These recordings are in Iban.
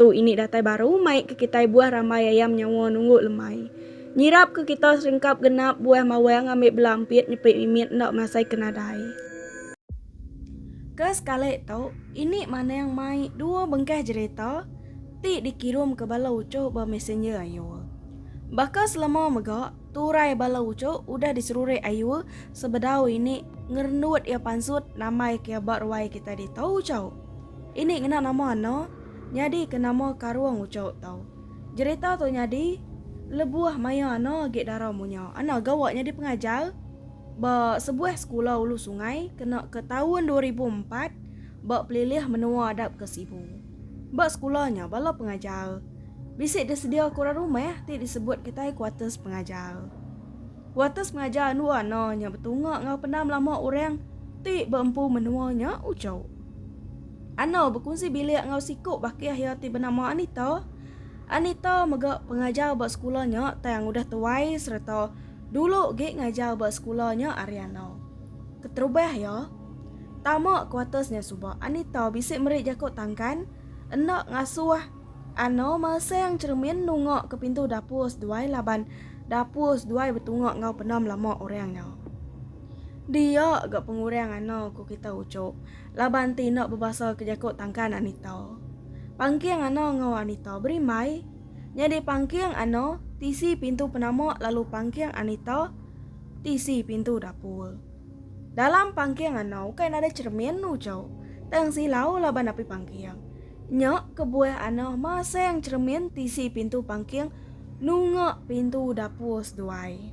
Tu ini datai baru mai ke kitai buah rambai ayam nyawa nunggu lemai. Nyirap ke kita serengkap genap buah mawang ambi bela empit nyepit mimit enda masai ke nadai. Ke sekali tu ini manang mai dua bengkah jerita ti dikirum ke bala uchuh ba messenger Ayul. Baka selama mega turai bala uchuh udah diserurik Ayul sebedau ini ngerendut iya pansut nambai ke iya ba ruai kitai ditu uchuh. Ini ngena nama eno nyadi ke nama Karong Ucok tu. Jerita tu nyadi lebuh maya eno agi dara munya. Eno gawa nyadi pengajar ba sebuah sekula ulu sungai kena ke taun dua ribu empat ba pelilih menua Adap ke Sibu. Ba sekula nya bala pengajar bisi disedia ke orang rumah ti disebut kitai kuarters pengajar. Kuatus mengajar andu Ana nya betunga enggau pendam lama orang ti beempu menua nya ujau. Ana bekunsi bilik enggau siku bakih iya ti benama Anita. Anita mega pengajar ba sekula nya tang udah tuai sereta dulu gi ngajar ba sekula nya ari Ana. Keterubah iya, tama kuatus nya suba Anita bisi meri jaku tangkan enda ngasuh Ano Masang Cheremin nunga ke pintu dapur seduai laban dapur seduai betunga enggau penam lama orang nya. Dia ga pengurang ano ku kita uchup laban ti enda bebasa ke jaku tangkan Anita. Pangking ano enggau Anita beri mai. Nyadi pangking ano tisi pintu penama lalu pangking Anita tisi pintu dapur. Dalam pangking anau ukai nadai cermin lu jauh. Tang silau laban api pangking. Nya kebuah anau masang cermin tisi pintu pangking nunga pintu dapur seduai.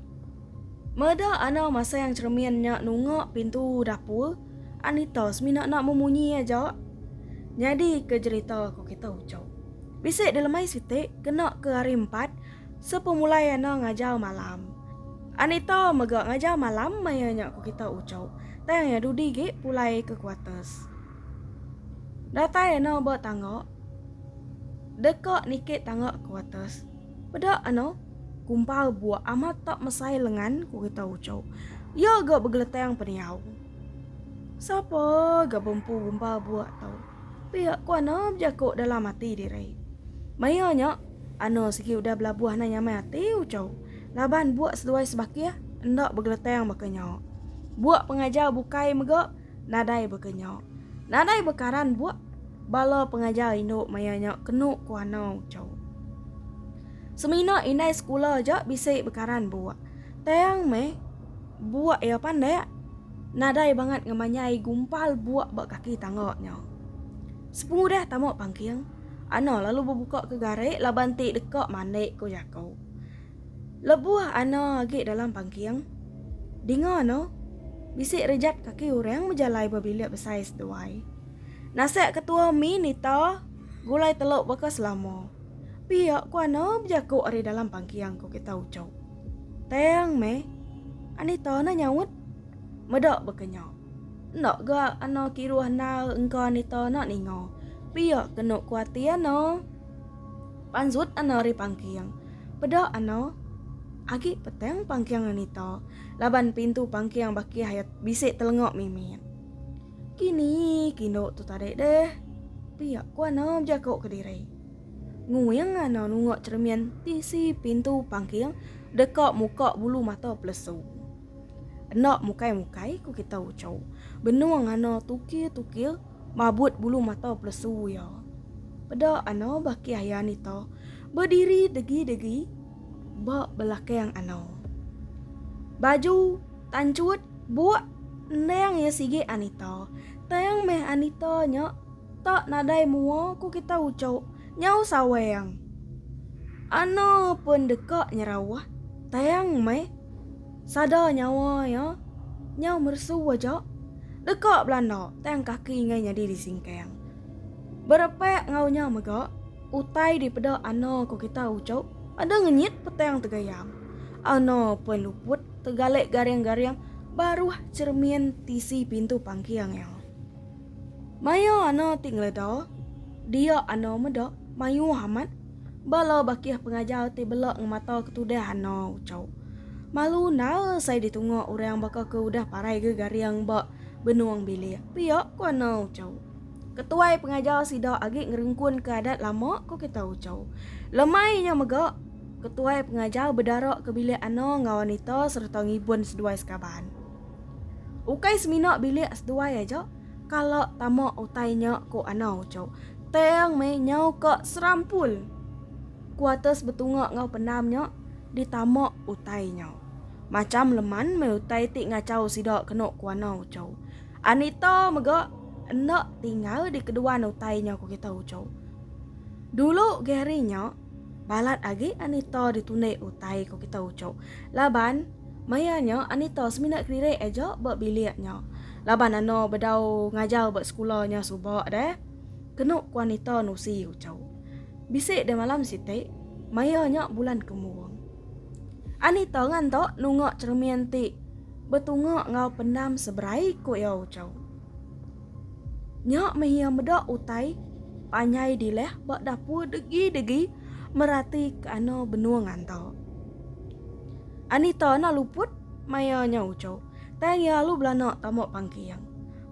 Meda anau masang cermin nya nunga pintu dapur, Anita semina enda memunyi aja. Nyadi ke jerita ko kita ucau. Bisi dilemai siti kena ke hari empat. Sepemulai Anna ngajar malam. Anita mega ngajar malam maya nya ku kita uchup. Tang iya dudi gi pulai ke kuarters. Datai Anna ba tangga. Deka nikit tangga kuarters. Peda Anna, kumpal buak amat tak mesai lengan ku kita uchup. Iya ga begeletang peniau. Sapa ga bempu kumpal buak tu? Pia ku Ana bejaku dalam ati diri. Maya nya, Ana sigi udah belabuh anai nyamai ati Uchau laban buak seduai sebakih enda begeletang baka nya. Buak pengajar bukai mega nadai baka nya. Nadai bekaran buak bala pengajar indu maya nya kenu ku Ana Uchau. Semina indai sekula aja bisi bekaran buak. Tang meh Buak iya pandak nadai bangat ngemanyai gumpal buak ba kaki tangga nya. Sepengudah tama pangking, Ana lalu bebuka ke garik laban ti deka mandik ku jaku. Lebuh Ana agi dalam pangking, dinga Ana bisi rejat kaki orang bejalai ba bilik besai seduai. Nasak ketua mi nita gulai telu baka selama. Pia ku Ana bejaku ari dalam pangking ku kita uchu. Tang meh. Anita enda nyaut. Meda baka nya. Enda ga Ana kiruh endar engka Anita enda ninga. Pia kenu kuatir Ana. Pansut Ana ari pangking. Peda Ana. Agi petang pangking Anita laban pintu pangking bakih aya bisi telenga mimit. Kini kindu tu tadi deh. Pia ku Ana bejaku kediri. Nguing anang nunga cermin tisi pintu pangking deka muka bulu mata pelesu. Enda mukai-mukai ku kita uchu. Benung ngana tukir-tukir mabut bulu mata pelesu iya. Peda ana baki aya nita bediri degi-degi ba belakang ana. Baju tanchut buk endang iya sigi Anita. Tang meh Anita nya. Tak nadai mua ku kita ucuk nyau saweng. Ana pun deka nyerauh tayang meh sada nyawa iya nyau mersu aja deka belanda tang kaki enggai nyadi disingkang. Berepak enggau nya mega utai dipeda Ana ku kita ucuk ada ngenyit petang tegayam. Ana pun luput tegalik garing-garing baruh cermin tisi pintu pangking iya. Mayuh ano ti ngeleda dia ano meda mayuh amat bala bakih pengajar ti bela ngemata ke tudah ano ucau. Malu nal sai ditunga orang baka ke udah parai ke garing ba benung bilik pia ku ano ucau. Ketuai pengajar sida agi ngerengkun ke adat lama ku kita ucau. Lemai nya mega ketuai pengajar bedara ke bilik ano enggau anita sereta ngibun seduai sekaban. Ukai semina bilik seduai aja kala tama utai nya ku Ana Ucho. Tang meh nyau ka serampul. Kuarters betunga enggau pendam nya ditama utai nya. Macham leman meh utai ti ngachau sida kenu ku Ana Ucho. Anita mega enda tinggal di keduan utai nya ku kita Ucho. Dulu Gary nya Balat agi Anita ditunik utai ko kita ucok laban maia nya Anita semina kelirik aja ba bilik nya laban ano bedau ngajar ba sekula nya suba deh kenu ko Anita nusi ucok. Bisi deh malam siti maia nya bulan kemung. Anita nganta nunga cheremin ti betunga enggau pendam seberai ko ia ucok. Nya meh iya meda utai panjai dilah ba dapur degi-degi merati ke ana benung anta. Anita na luput maya nya uchu, tang iya alu belana tama pangking.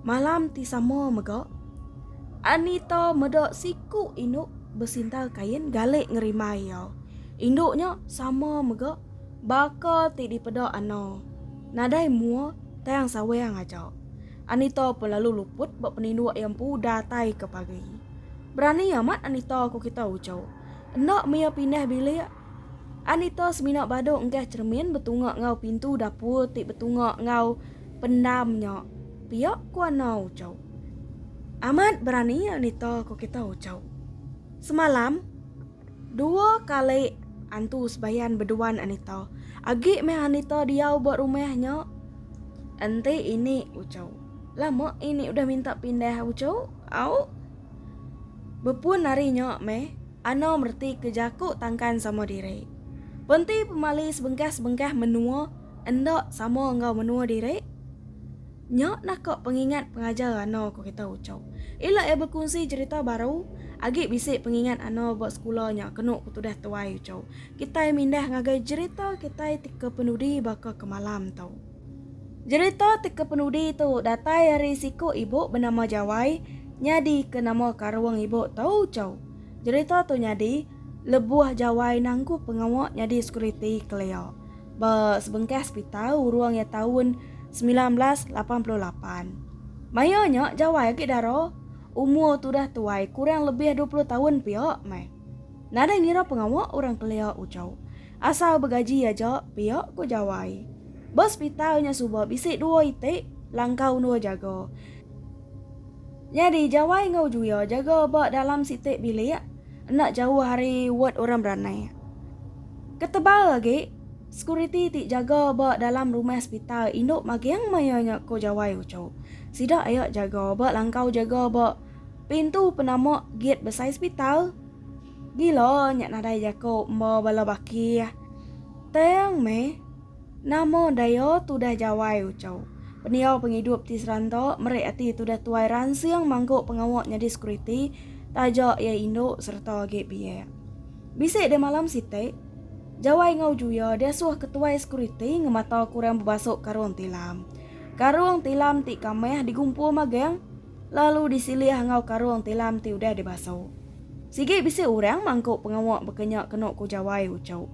Malam ti sama mega, Anita meda siku indu besintal kain galek ngerimbai iya. Indu nya sama mega baka ti dipeda Ano, nadai mua tang sawang aja. Anita pun lalu luput ba peninduk iya empu datai ke pagi. Berani amat Anita ku kita uco. Enda mia pindah bilik. Anita semina badu engkah cheremin betunga enggau pintu dapur ti betunga enggau pendam nya. Pia ku Anna uco. Amat berani Anita ku kita uco. Semalam. Dua kali antu sebayan beduan Anita. Agi meh Anita diau ba rumah nya. Enti ini ucau. Lama ini udah minta pindah ucau. Au. Bepun hari nya meh Ana mereti ke jaku tangkan sama diri. Penti pemali sebengkah-sebengkah menua enda sama enggau menua diri. Nya nah ka pengingat pengajar Rana ke kita ucau. Ila iya bekunsi cherita baru, agi bisi pengingat Ana ba sekula nya kenu ke tudah tuai ucau. Kitai mindah ngagai cherita kitai ti kepenudi baka ke malam tu. Cherita ti kepenudi tu datai ari siku ibu benama Jawai nyadi ke nama karung ibu tu ucau. Cherita tu nyadi lebuh Jawai nangku pengawa nyadi sekuriti kelia. ba sebengkah sepital urung iya taun semilan belas lapan puluh lapan. Maya nya jawai agi dara umur tu dah tuai kurang lebih dua puluh taun pia meh. Nadai ngira pengawa orang kelia uchu. Asal begaji aja pia ku jawai. Ba sepital nya suba bisi dua iti langkau endur jaga. Nyadi jawai enggau Juya jaga ba dalam siti bilik. Enda jauh ari ward orang beranai. Ketebal agi, sekuriti ti jaga ba dalam rumah sepital indu maging maya nya ko Jawai Ucho. Sida aya jaga ba langkau jaga ba pintu penama gate besai sepital. Gila nya nadai jako emba bala baki tang meh. Nama daya tudah jawai uchau pendiau pengidup ti seranta meri ati tudah tuai ransing mangku pengawa nyadi sekuriti taja iya indu sereta agi biak. Bisi deh malam siti, Jawai enggau Juya diasuh ketuai sekuriti ngemata kurang bebasuk karung tilam. Karung tilam ti kamah digumpul magang. lalu disilih enggau karung tilam ti udah dibasu. Sigi bisi orang mangku pengawa baka nya kenu ku Jawai Ucok.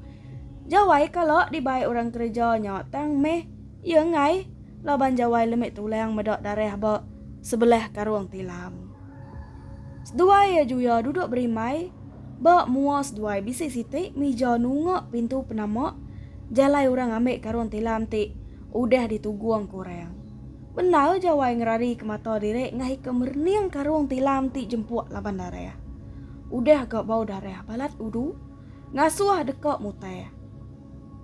Jawai kala dibai orang kereja nya tang meh iya enggai laban Jawai lemi tulang meda darah ba sebelah karung tilam. Seduai iya juya duduk berimbai ba mua seduai bisi siti mija nunga pintu penama jalai orang ambi karung tilam ti udah ditugung ku orang. Bendar Jawai ngerarika mata diri ngahika merening karung tilam ti jempuk laban darah. Udah ga bau darah balat udu, ngasuh deka mutai.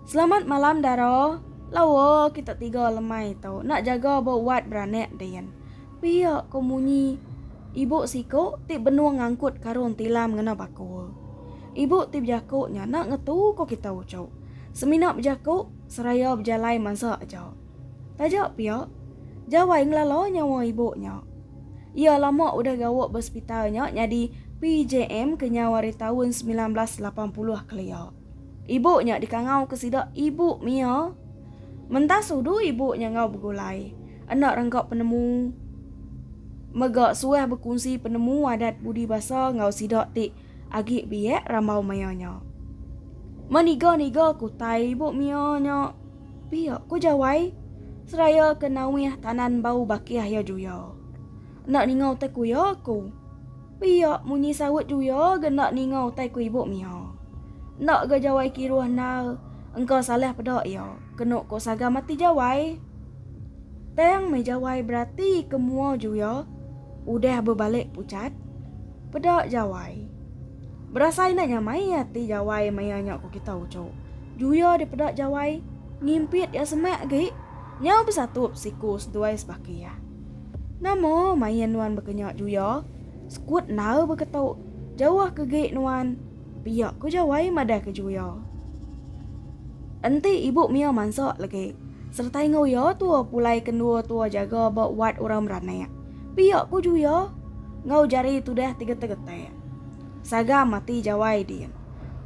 Selamat malam dara, lawa kita tiga lemai tu enda jaga ba wad beranak din. Pia ko munyi ibu siko ti benung ngangkut karung tilam ngena bakul. Ibu ti bejako nya enda ngetu ko kita uchu. Semina bejako seraya bejalai mansa aja. Taja pia, Jawai ngelala nyawa ibu nya. Iya lama udah gawa ba sepital nya nyadi PJM kenyau ari taun semilan belas lapan puluh kelia. Ibu nya dikangauka sida Ibu Mia. Mentas udu ibu nya enggau begulai, enda rengka penemu mega suah bekunsi penemu adat budi basa enggau sida ti agi biak rambau maya nya. Meniga-niga ke utai Ibu Mia nya. Pia, ku Jawai seraya ke nauih tanan bau bakih iya juya. Enda ninga utai ku iya aku. Pia, munyi saut juya ga enda ninga utai ku ibu Mia. Enda ga Jawai kiruh nal engka salah peda iya, kenu ko sagam ati Jawai. Tang meh Jawai berati ke mua juya udah bebalik pucat. Peda Jawai. Berasai enda nya mai ati Jawai maya nya ku kita uchu. Juya dipeda Jawai, ngimpit iya semak agi. Nyau besatup siku seduai sebaki iya. Nama main nuan bekenya Juya? Sekut endar beketu. Jauh ke gi nuan. Pia ku Jawai madah ke Juya. Enti ibu mia mansa legi. Sereta enggau iya tua pulai ke dua tua jaga ba wat orang beranak. Pia ku Juya enggau jari tudah tigetek-getek. Sagam ati Jawai din.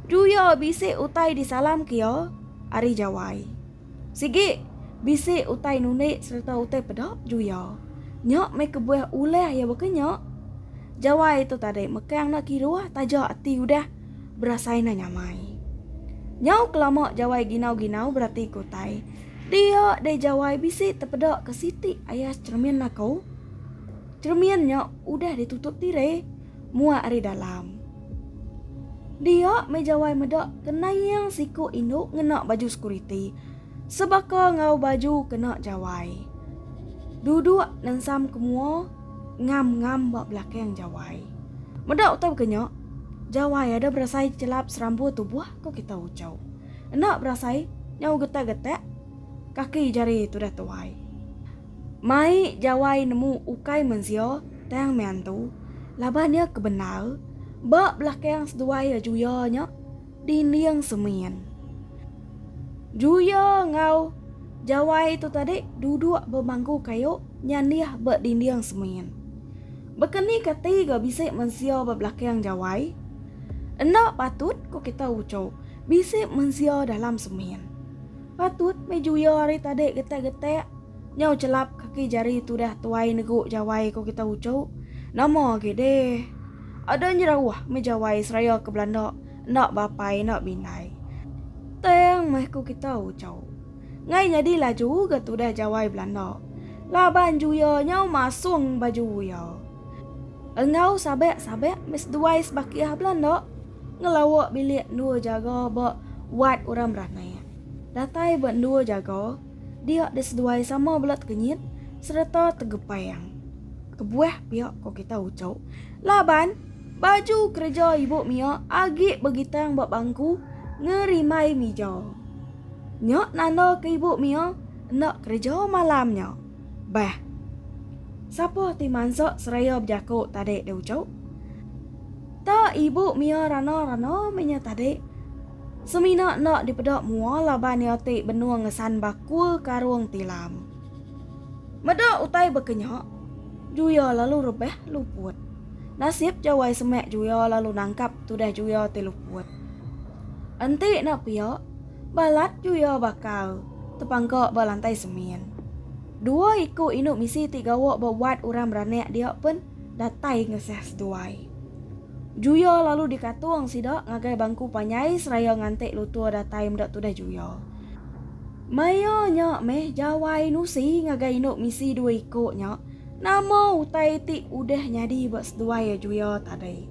Tu iya bisi utai disalamka iya ari Jawai. Sigi, bisi utai nundi sereta utai peda ju iya. Nya meh kebuah ulah iya baka nya. Jawai tu tadi mekang enda kiruh taja ati udah berasai enda nyamai. Nyau kelama Jawai ginau-ginau beratika utai dia deh Jawai bisi tepedaka siti ayas cheremin aku. Cermin nya udah ditutup tire muat ari dalam. Dia meh jawai meda kenaing siku indu ngena baju sekuriti sebaka enggau baju kena jawai. Duduk nensam ke mua ngam-ngam ba belakang jawai. Meda utai baka nya, jawai ada berasai chelap serambu tubuh ko kita ucho. Enda berasai nyau getak-getak kaki jari tudah tuai. Mai jawai nemu ukai menzio tang mean tu laban ia ke bendar ba belakang seduai ia juya nya dinding semin. Juya enggau jawai tu tadi duduk ba bangku kayu nyandih ba dinding semin. Bekeni ka ti ga bisi menzio ba belakang jawai? Enda patut ko kita uchu bisi menzio dalam semin. Patut meh juya ari tadi getak-getak nyau chelap kaki jari tudah tuai negu jawai ko kita uchu. Nama agi deh. Ada nyerauh meh jawai seraya ke belanda enda bapai enda bindai. Tang meh ko kita uchu. Ngai nyadi laju ga tudah jawai belanda. Laban juya nyau masung baju uya. Enggau sabak-sabak meh seduai sebakih belanda. Ngelawa bilik endur jaga ba wad orang beramai. Datai ba endur jaga dia diseduai sama bela tekenyit sereta tegepang. Kebuah pia ko kita uchu laban baju kereja ibu mia agi begitang ba bangku ngerimai mija. Nya nanda ke ibu mia enda kereja malam nya. Bah. Sapa ti mansa seraya bejako tadi diuchu? Ta ibu mia rana-rana meh nya tadi. Semina enda dipeda mua laban iya ti benung ngesan bakul karung tilam. Meda utai baka nya, Juya lalu rebah luput. Nasib Jawai semak Juya lalu nangkap tudah Juya ti luput. Enti enda pia, balat Juya bakal tepangka ba lantai semin. Dua iku indu misi ti gawa ba wad orang beranak dia pen. datai ngesah seduai. Juya lalu dikatung sida ngagai bangku panyai seraya nganti Lutur datai meda tudah juya. Maya nya meh Jawai Nusi ngagai indu misi dua iku nya nama utai ti udah nyadi ba seduai juya tadi.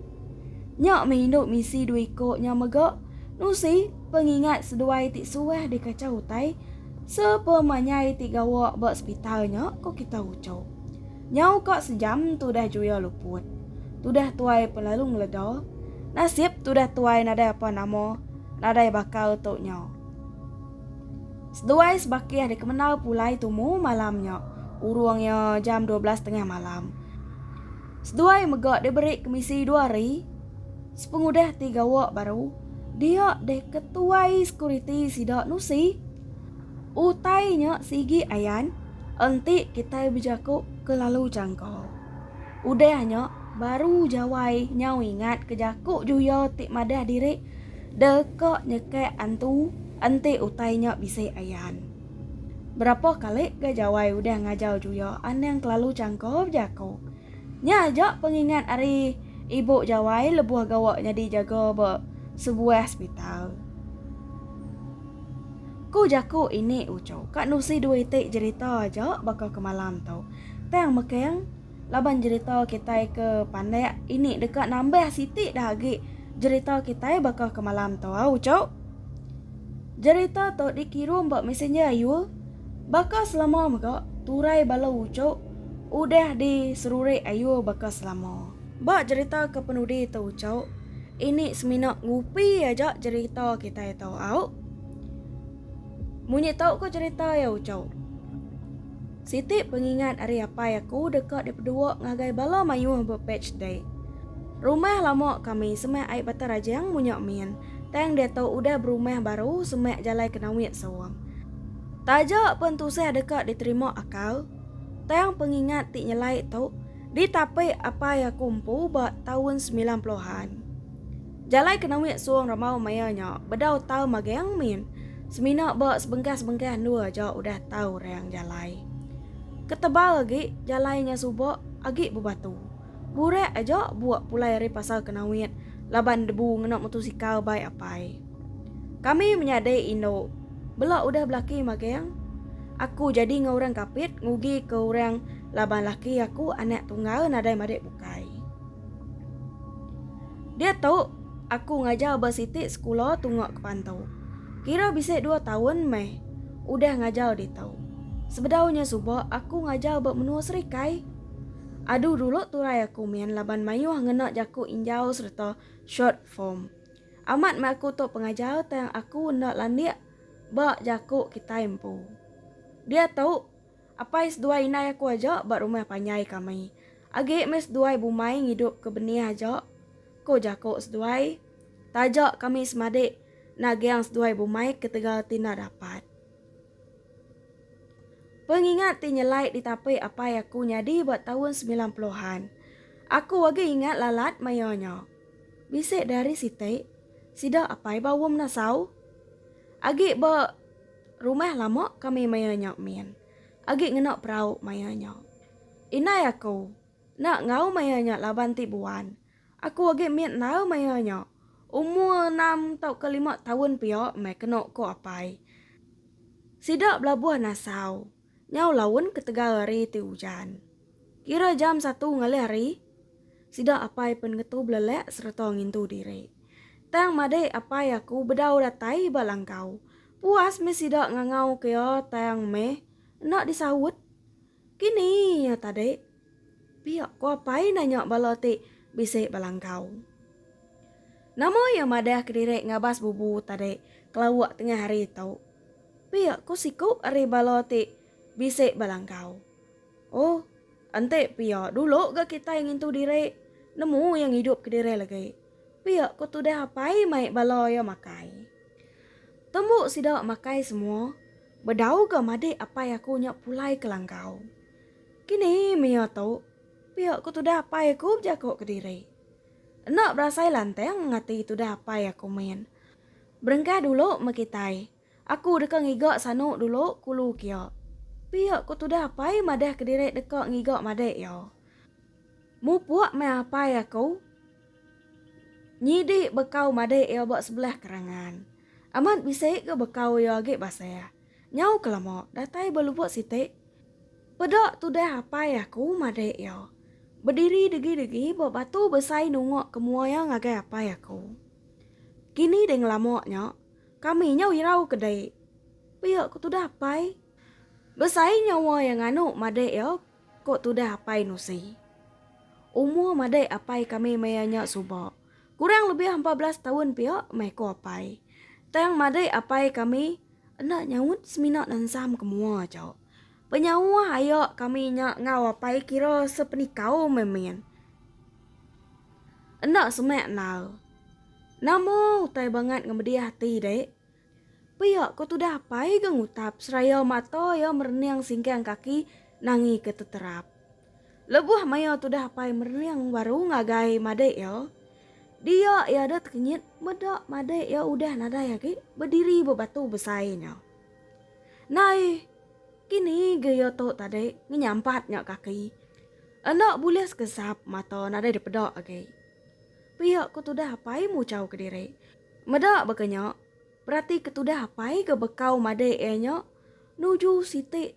Nya meh indu misi dua iku nya mega Nusi pengingat seduai ti suah dikachau utai sepemanyai ti gawa ba sepital nya, ku kitai uchu. Nyau ka sejam tudah juya luput. Tudah tuai pun lalu ngeleda. Nasib tudah tuai nadai apa nama, nadai bakal tu nya. Seduai sebakih dikemena pulai tumu malam nya, urung iya jam dua belas tengah malam. Seduai mega diberi kemisi dua hari sepengudah ti gawa baru dia deh ketuai sekuriti sida nusi. Utai nya sigi ayan enti kitai bejaku kelalu jangka. Udah nya baru jawai nyau ingat ke jaku juya ti madah diri deka nyekak antu enti utai nya bisi ayan. Berapa kali ga jawai udah ngajau juya anang kelalu jangka bejaku. Nya aja pengingat ari ibu Jawai lebuh gawa nyadi jaga ba sebuah sepital. Ku jaku ini Ucho, ka nusi dua iti jerita aja baka ke malam tu. Tang mekeng laban jerita kitai ke pandak ini deka nambah siti dah agi jerita kitai baka ke malam tu au Ucho. Jerita tu dikirum ba messenger ayul. Baka selama mega turai bala ujuk udah di serurik ayur baka selama. Ba jerita ke penudi tu ujuk ini semina ngupi aja jerita kitai tu au. Munyi tau ko jerita ia ujuk. Siti pengingat ari apai aku deka di pedua ngagai bala mayuh ba page ti. Rumah lama kami semah ai Bata Rajang munya min. tang diatu udah berumah baru semak jalai ke Nawit Sawong. Taja pen tusah deka diterima akal, tang pengingat ti nyelai tu ditapi apai aku empu ba taun semilan peluhan. Jalai ke Nawit Sawong Ramau maya nya bedau tau magang min semina ba sebengkah-sebengkah endur aja udah tau rang jalai. Ketebal agi jalai nya suba agi bebatu. Burak aja buak pulai ari pasar ke Nawit laban debu ngena mutusikal bai apai. Kami menyadi indu. Bela udah belaki magang. Aku jadi enggau orang kapit ngugi ke orang laban laki aku anak tunggal nadai madik bukai. Dia tu aku ngajar ba siti sekula tunga ke Pantu. Kira bisi dua taun meh udah ngajar ditu. Sebedau nya suba aku ngajar ba menua Serikai. Aduh dulu turai aku min laban mayuh ngena jaku injau sereta short form. Amat meh aku tu pengajar tang aku enda landik ba jaku kitai empu. Diatu, apai seduai indai aku aja ba rumah panjai kami. Agi meh seduai bumai ngidup ke benih aja, ku jaku seduai. Taja kami semadi nagang seduai bumai ketegal ti enda dapat. Pengingat ti nyelai ditapi apai aku nyadi ba taun semilan puluhan. Aku agi ingat lalat maioh nya. Bisi da ari siti, sida apai ba Wong Nasau. Agi ba rumah lama kami maioh nya min. Agi ngena perau maioh nya. Indai aku enda enggau maioh nya laban ti buan. Aku agi mit enam aya nya. Umur enam tauka lima taun pia meh keno ko apai. Sida belabuh nasau. Nyau laun ketegal hari ti ujan. Kira jam satu ngalih hari. Sida apai pen ngetu belelek sereta ngintu diri. Tang madik apai aku bedau datai ba langkau. Puas meh sida ngangau ke iya tang meh enda disaut. Kini iya tadi pia ko apai nanya bala ti bisi ba langkau. Nama iya madah kediri ngabas bubu tadi kelauk tengah hari tu? Pia ko siku ari bala ti bisi ba langkau. Oh, enti pia dulu ga kitai ngintu diri nemu iya ngidup kediri lagi. Pia ko tudah apai mai bala iya makai. Tembu sida makai semua. Bedau ga madik apai aku nya pulai ke langkau. Kini mia tu, pia ku tudah apai aku bejako kediri. Enda berasai lantang ngati tudah apai aku min. Berengkah dulu meh kitai, aku deka ngiga sanu dulu kulu kia. Pia ku tudah apai madah kediri deka ngiga madik iya. Mupuk meh apai aku. Nyidi bekau madai iya ba sebelah kerangan. Amat bisi ga bekau iya agi basah. Nyau ke lama datai ba lubuk siti. Peda tudah apai aku madai iya. Bediri degi-degi ba batu besai nungok ke mua iya ngagai apai aku. Kini deh ngelama nya, kami nyau irau ke dei. Pia ku tudah apai. Besai nyawa iya nganu madai iya Ko tudah apai Nusi. Umur madai apai kami maya nya suba. Kurang lebih empat belas taun pia meh ko apai. Tang madai apai kami enda nyaut semina nansam ke mua aja. Penyauh aya kami nya enggau apai kira sepenikau meh min. Enda semak enal. Nama utai bangat ngemedih ati dek. Pia ko tudah apai ga ngutap seraya mata iya merening singkang kaki nangi ke teterap. Lebuh maya tudah apai merening baru ngagai madai iya, dia iya da tekenyit meda madai iya udah nadai agi bediri ba batu besai nya. Nai, kini ga iya tu tadi ngenyampat nya kaki. Enda bulih sekesap mata nadai dipeda agi. Pia ko tudah apai muchau kediri. Meda baka nya, berati ke tudah apai ke bekau madai iya nya nuju siti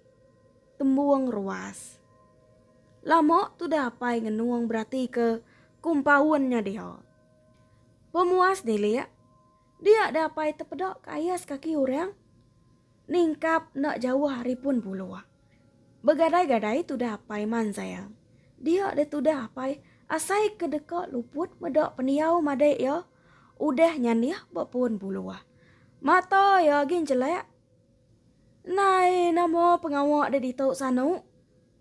tembung ruas. Lama tudah apai ngenung beratika kompaun nya diha. Pemuas nilik, dia deh apai tepeda ke ais kaki orang ningkap enda jauh ari pun buluh. Begadai-gadai tudah apai manzai. Dia deh tudah apai asai ke deka luput meda pendiau madai iya Udah nyandih ba pun buluh. Mata iya agi njelak. Nai nama pengawa da ditu sanu?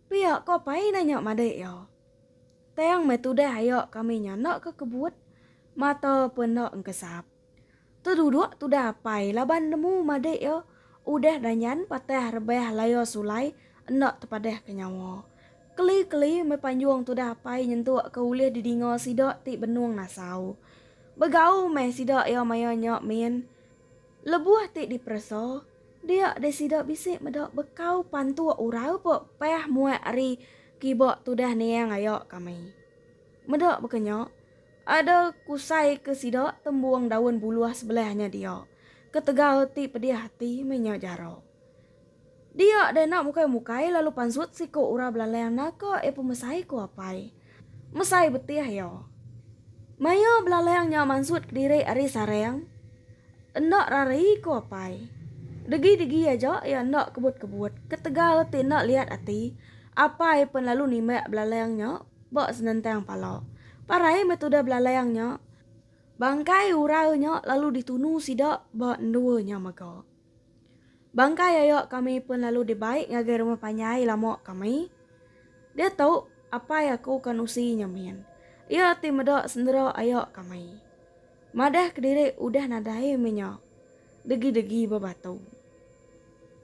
Pia ko pai nanya madik iya. Tang meh tudah aya kami nya enda ke kebut, mata pun enda engkesap. Teduduk tudah apai laban nemu madik iya udah danyan patah rebah laya sulai enda tepadah ke nyawa. Keli-keli meh panjung tudah apai nyentuk ke ulih didinga sida ti benung ngasau. Begau meh sida iya maya nya min. Lebuh ti diperesa, dia deh sida bisi meda bekau pantuk urau pe pah muat ari kiba tudah niang aya kami. Meda baka nya, ada kusai ke sida tembung daun buluh sebelah nya dia. Ketegal ti pedih ati meh nya jara. Dia deh enda mukai mukai lalu pansut siku urang belalang naka iya pemesai ku apai. Mesai betih iya. Maya belalang nya mansut kediri ari sarang enda rari ku apai. Degi degi aja iya enda kebut kebut ketegal ti enda liat ati apai pen lalu nimbak belalang nya ba senentang pala. Parai meh tudah belalang nya bangkai urau nya lalu ditunu sida ba endor nya mega. Bangkai ayo kami pun lalu dibai ngagai rumah panjai lama kami. Diatu apai aku ke nusi nya min. Iya ti meda sendera ayo kami. Madah kediri udah nadai meh nya. Degi-degi ba batu.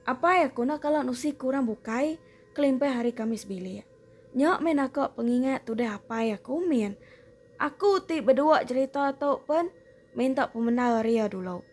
Apai aku enda kala nusi ke orang bukai kelimpah ari kami sebilik. Nya meh naka pengingat tudah apai aku min. Aku ti bedua jerita tu pun minta pemendar ari iya dulu.